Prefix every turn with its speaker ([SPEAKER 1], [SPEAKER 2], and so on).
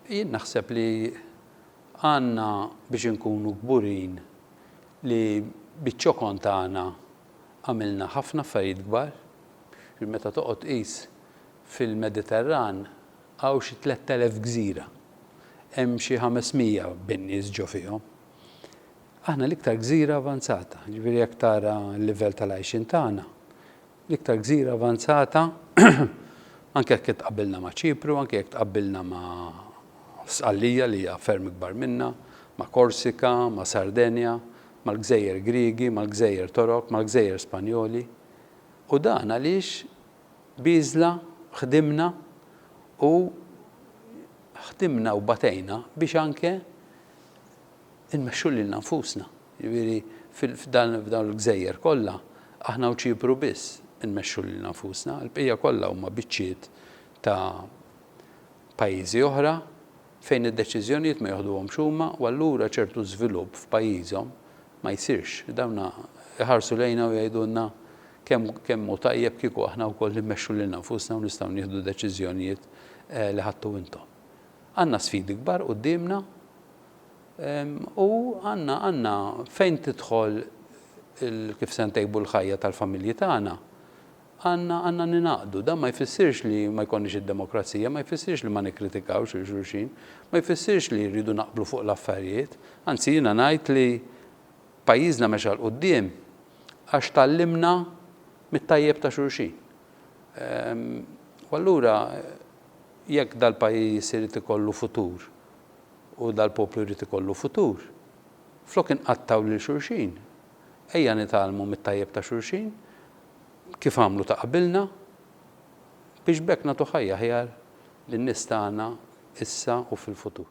[SPEAKER 1] Jien naħseb li għandna biex inkunu kburin li biċ-ċokon tagħna għamilna ħafna affarijiet kbar. Meta toqgħod tqis fil-Mediterran hawn xi tlett elef gżira. Hemm xi ħames mija bin-nies ġo fihom. Aħna l-iktar gżira avanzata, jiġifieri jekk tara l-livell tal-għajxien tagħna, L-iktar gżira avanzata, anke jekk itqabbilna ma' Ċipru, anke jekk tqabbilna ma' Sqallija li hija ferm ikbar minnha, ma' Korsika, ma' Sardenja, mal-gżejjer Griegi, mal-gżejjer Torok, mal-gżejjer Spanjoli. U dan għaliex b'għiżla ħdimna u ħdimna u batejna biex anke nmexxu lilna nfusna. Jiġifieri f'dawn il-gżejjer kollha, aħna u Ċipru biss inmexxu lilna nfusna, il-bqija kollha huma biċċiet ta' pajjiżi oħra fejn id-deċiżjonijiet ma joħduhomx huma u allura ċertu żvilupp f'pajjiżhom ma jsirx. Dawn iħarsu lejna u jgħidulna kemm kemm hu tajjeb kieku aħna wkoll immexxu lilna nfusna u nistgħu nieħdu deċiżjonijiet li ħadtu intom. Għandna sfidi kbar quddiemna U għandna, għandna, fejn tidħol il, kif se ntejbu l-ħajja tal-familji tagħna, għandna, għandna ningħaqdu. Dan ma jfissirx li ma jkollniex id-demokrazija, ma jfissirx li ma nikkritikawx lil xulxin, ma jfissirx li rridu naqblu fuq l-affarijiet. Anzi jiena ngħid li pajjiżna mexa 'l quddiem għax tgħallimna mit-tajjeb ta' xulxin. U allura jekk dal-pajjiż irid ikollu futur, u dal-poplu jrid ikollu futur, flok inqattgħu lil xulxin, ejja nitgħallmu mit-tajjeb ta' xulxin, kif għamlu ta' qabilna, biex b'hekk nagħtu ħajja aħjar lin-nies tagħna issa u fil-futur.